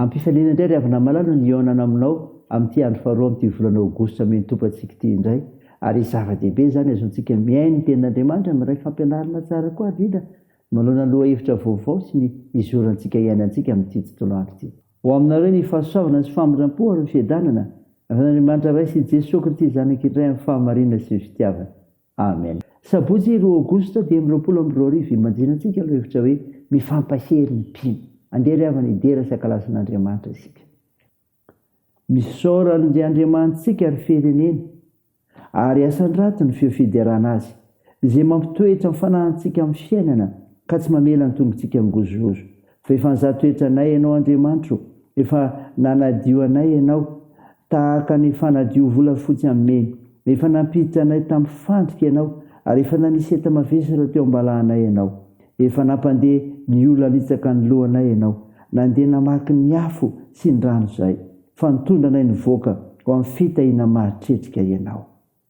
Ampifaliana indray ry havana malala ny hihaonana aminao amin'ity andro faharoa amin'ity volana aogositra mihentopattsika ity indray ary zava-dehibe izany azontsika mihaino ny tenin'Andriamanitra miray fampianarana tsara koa ry Lina manoloana lohahevitra vaovao sy ny izorantsika hiainantsika amin'ity tontolo andro ity. Ho aminareo ny fahasoavana sy famindrampo ary ny fiadanana avy amin'Andriamanitra Ray sy Jesoa Kristy Zanakiny Iray amin'ny fahamarinana sy ny fitiavana. Amen. Sabotsy roa Aogositra dimy amby roapolo amby roa arivo imanjinantsika ny hevitra hoe Mifampahery ny mpino. Andeha ry havana hidera sy hankalaza an'Andriamanitra isika. Misaora an'J Andriamanitsika ry firenena ary asandrato ny feo fiderana azy izay mampitoetra ny fanahintsika amin'ny fiainana ka tsy mamela ny tongotsika hangozohozo. Fa efa nizaha toetra anay Ianao Andriamanitra ô, efa nanadio anay Ianao, tahaka ny fanadio volafotsy amin'ny memy. Efa nampiditra anay tamin'ny fandrika Ianao, ary efa nanisy enta-mavesatra teo am-balahanay Ianao. Efa nampandeha ny ola nitsaka ny lohanay Ianao, nandeha namaky ny afo sy ny rano izay, fa nitondra anay nivoaka ho amin'ny fitahiana mahatretrika Ianao.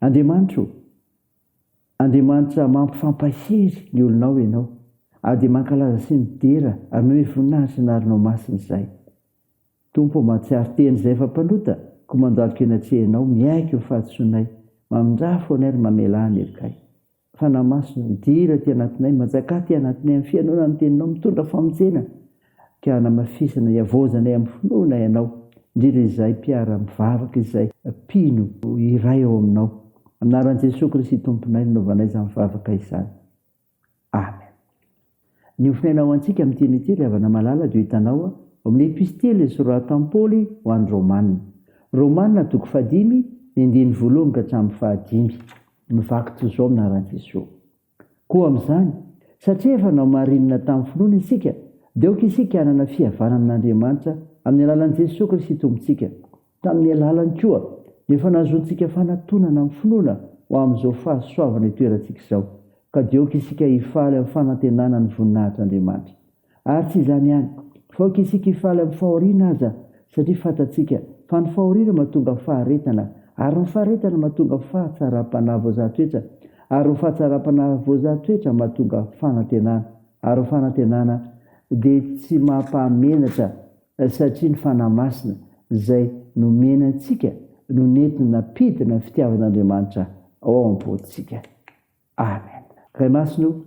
Andriamanitra ô! Andriamanitra mampifampahery ny olonao Ianao, ary dia mankalaza sy midera ary manome voninahitra ny anaranao masina izahay. Tompo ô, mahatsiaro tena izahay fa mpanota, koa mandalika eny an-trehanao, miaiky ny fahadisoanay, mamindrà fo anay ary mamelà ny helokay. Fanahy Masina, midira aty anatinay, manjaka aty anatinay amin'ny fihainoana ny Teninao, mitondra famonjena, ka hanamafisana, hiavaozanay amin'ny finoana Ianao, indrindra izahay mpiara-mivavaka izay mpino iray ao Aminao. Amin'ny anaran'i Jesoa Kristy Tomponay no nanaovanay izany vavaka izany. Amen. Ny hofonaina ho antsika amin' ity an'ity, ry havana malala, dia ho hitanao ao amin' ny Epistily soratam' Paoly ho an' ny Rômana. Rômana, toko fahadimy, ny andininy voalohany ka hatramin' ny fahadimy. Mivaky toy izao amin' Ara-Jesoa. Koa amin' izany, satria efa nohamarinina tamin' ny finoana isika, dia aoka isika hanana fihavanana amin' Andriamanitra amin' ny alalan' i Jesoa Kristy Tompontsika. Tamin'ny alalany koa dia efa nahazoantsika fanatonana amin'ny finoana ho amin'izao fahasoavana itoerantsika izao, ka dia aoka isika hifaly amin'ny fanantenana ny voninahitr'Andriamanitra. Ary tsy izany ihany, fa aoka isika hifaly amin'ny fahoriana aza, satria fantatsika fa ny fahoriana mahatonga faharetana, ary ny faharetana mahatonga fahatsaram-panahy voazahan-toetra, ary ny fahatsaram-panahy voazahan-toetra mahatonga fanantenana, ary ny fanantenana dia tsy mampahamenatra. satria ny Fanahy Masina izay nomena antsika no nety nampidina ny fitiavan'Andriamanitra ao am-pontsika. Amen. Ray Masina o,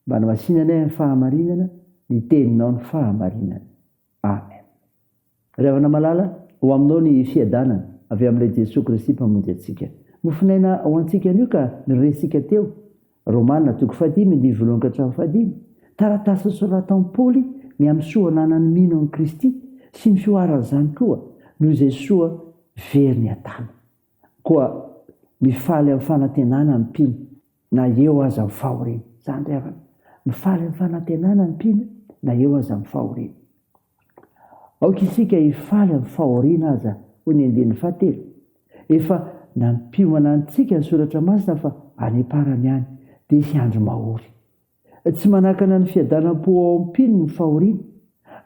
manamasina anay amin'ny fahamarinana, ny Teninao no fahamarinana. Amen. Ry havana malala, ho Aminao ny fiadanana avy amin'ilay Jesoa Kristy Mpamonjy antsika. Mofonaina ho antsika anio ka ny resintsika teo Romana, toko fahadimy andininy voalohany ka hatramin'ny fahadimy, Taratasy nosoratan'i Paoly ny amin'ny soa ananan'ny mino an'i Kristy sy ny fihoaran'izany koa noho izay soa very ny adala. Koa mifaly amin'ny fanantenana ny mpino na eo aza ny fahoriany. Izany ry havana, mifaly amin'ny fanantenana ny mpino na eo aza ny fahoriany. Aoka isika hifaly amin'ny fahoriana aza, hoy ny andininy fahatelo. Efa nampiomana antsika ny Soratra Masina fa any am-parany ihany, dia hisy andro mahory. Tsy manakana ny fiadanam-po ao am-pony ny fahoriana.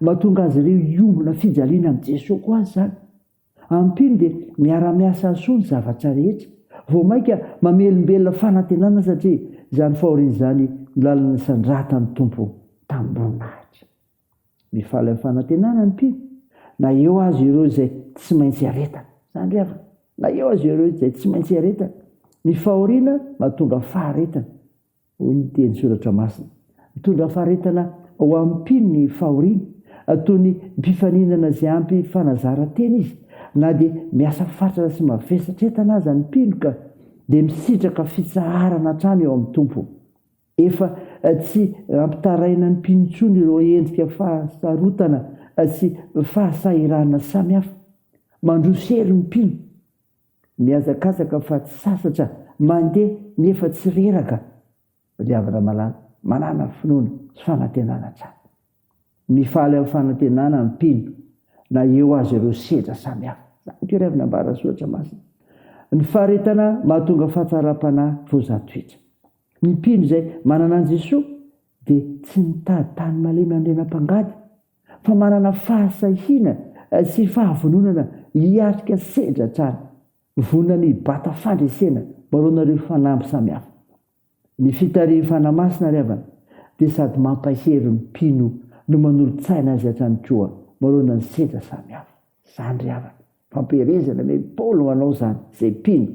Mahatonga azy ireo hiombona fijaliana amin'i Jesoa koa aza izany. Am-pony dia miara-miasa hahasoa ny zavatra rehetra. Vao mainka mamelombelona fanantenana satria izany fahoriana izany no lalana nisandratan'ny Tompo tamim-boninahitra. Mifaly amin'ny fanantenana ny mpino, na eo aza ireo izay tsy maintsy iaretana. Izany ry havana, na eo aza ireo izay tsy maintsy iaretana. Ny fahoriana mahatonga faharetana, hoy ny teny Soratra Masina. Mitondra faharetana ho an'ny mpino ny fahoriana. Ataony mpifaninana izay ampy fanazaran-tena izy. Na dia miasa fatratra sy mavesatra entana aza ny mpino ka dia misitraka fitsaharana hatrany eo amin'ny Tompo. Efa tsy ampitaraina ny mpino intsony ireo endrika fahasarotana sy fahasahiranana samihafa mandroso hery ny mpino, mihazakazaka fa tsy sasatra, mandeha nefa tsy reraka. Ry havana malala, manàna finoana sy fanantenana hatrany. Mifaly amin'ny fanantenana ny mpino na eo aza ireo sedra samihafa. Izany aky irery nambaran'ny Soratra Masina. Ny faharetana mahatonga fahatsaram-panahy vao zatohitra. Ny mpino izay manana an'i Jesoa dia tsy mitady tany malemy handrena mpangady, fa manana fahasahiana sy fahavononana hiatrika sedra hatrany. Vonona ny hibata fandresena manoloana ireo fanamby samihafa. Ny fitarihifana masina ry havana dia sady mampahery ny mpino no manolo-tsaina azy hatrany koa manoloana ny sedra samihafa. Zany ry havana, fampielezana anie i Paoly manao izany, izay mpino,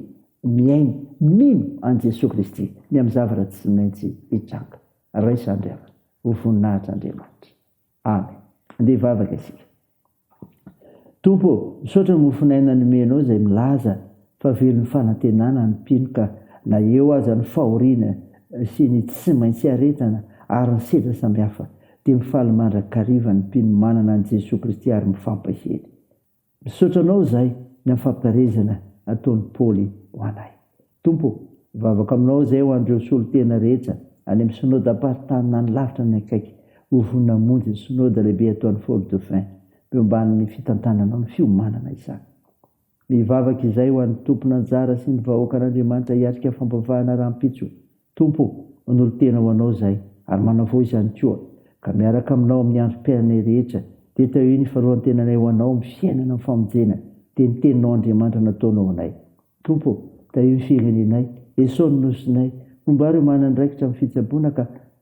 mihaino, mino an'i Jesoa Kristy ny amin'ny zavatra tsy maintsy hitranga. Raisany ry havana, ho voninahitr' Andriamanitra. Amen. Andeha hivavaka isika. Tompo ô, misaotra ny mofon'aina nomenao izay milaza fa velon'ny fanantenana ny mpino ka na eo aza ny fahoriana sy ny tsy maintsy hiaretana ary ny sedra samihafa dia mifaly mandrakariva ny mpino manana an'i Jesoa Kristy ary mifampahely. Misaotra Anao izahay ny amin'ny fampiharezana ataon'i Paoly ho anay. Tompo ô, mivavaka Aminao izahay ho an'ireo solontena rehetra any amin'ny Synodam-paritany na ny lavitra na ny akaiky ho vonona hamonjy ny Synoda lehibe ataon'i Fort-Dauphin, miomban'ny fitantananao ny fiomanana izany. Mivavaka izay ho an'ny tompon' anjara sy ny vahoakan' Andriamanitra hiatrika fampavahana rahampitso. Tompo o, manolo-tena ho Anao izahay ary manavao izany koa, ka miaraka aminao amin'ny androm-piainanay rehetra, dia tahio ny fanoloran-tenanay ho Anao amin'ny fiainana amin'ny famonjena, dia ny Teninao Andriamanitra nataonao ho anay. Tompo o, tahio ny firenenay, esao ny nosinay, homba ireo manana andraikitra amin'ny fitsaboana ka.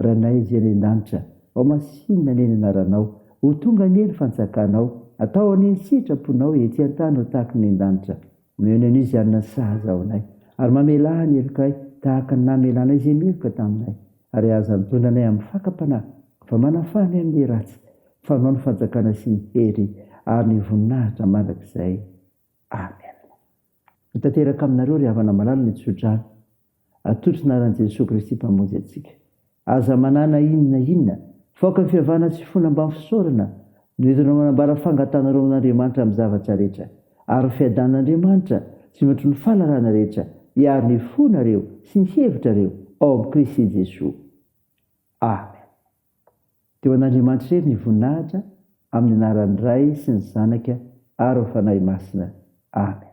Ranay Zay any an-danitra, ao masinina anie ny anaranao, ho tonga anie ny fantsakanao, atao anie ny sitraponao ety an-tany ho tahaka ny an-danitra. Omeo ny anio izany nasazy ao anay, ary mamelà ny helokay tahaka ny namelanay izay meloka taminay, ary aza mitondra anay amin'ny fakam-panahy, fa manafà anay amin'ny ratsy, fa anao ny fanjakana sy ny hery ary ny voninahitra mandrakizay. Amen. Tanteraka aminareo ry havana malala ny tsodrano atolotry ny anaran'i Jesoa Kristy Mpamonjy antsika. Aza manana inona na inona fa aoka ny fiavahana sy finoana ambany fisaorana no entinao manambara fangatanareo amin'Andriamanitra amin'ny zavatra rehetra ary ny fiadanan'Andriamanitra sy mihoatry ny fahalalana rehetra hiaro ny fonareo sy ny hevitrareo ao amin'i Kristy Jesoa. Amen. Dia ho an'Andriamanitra irery ny voninahitra amin'ny anaran'ny Ray sy ny Zanaka ary ny Fanahy Masina. Amen.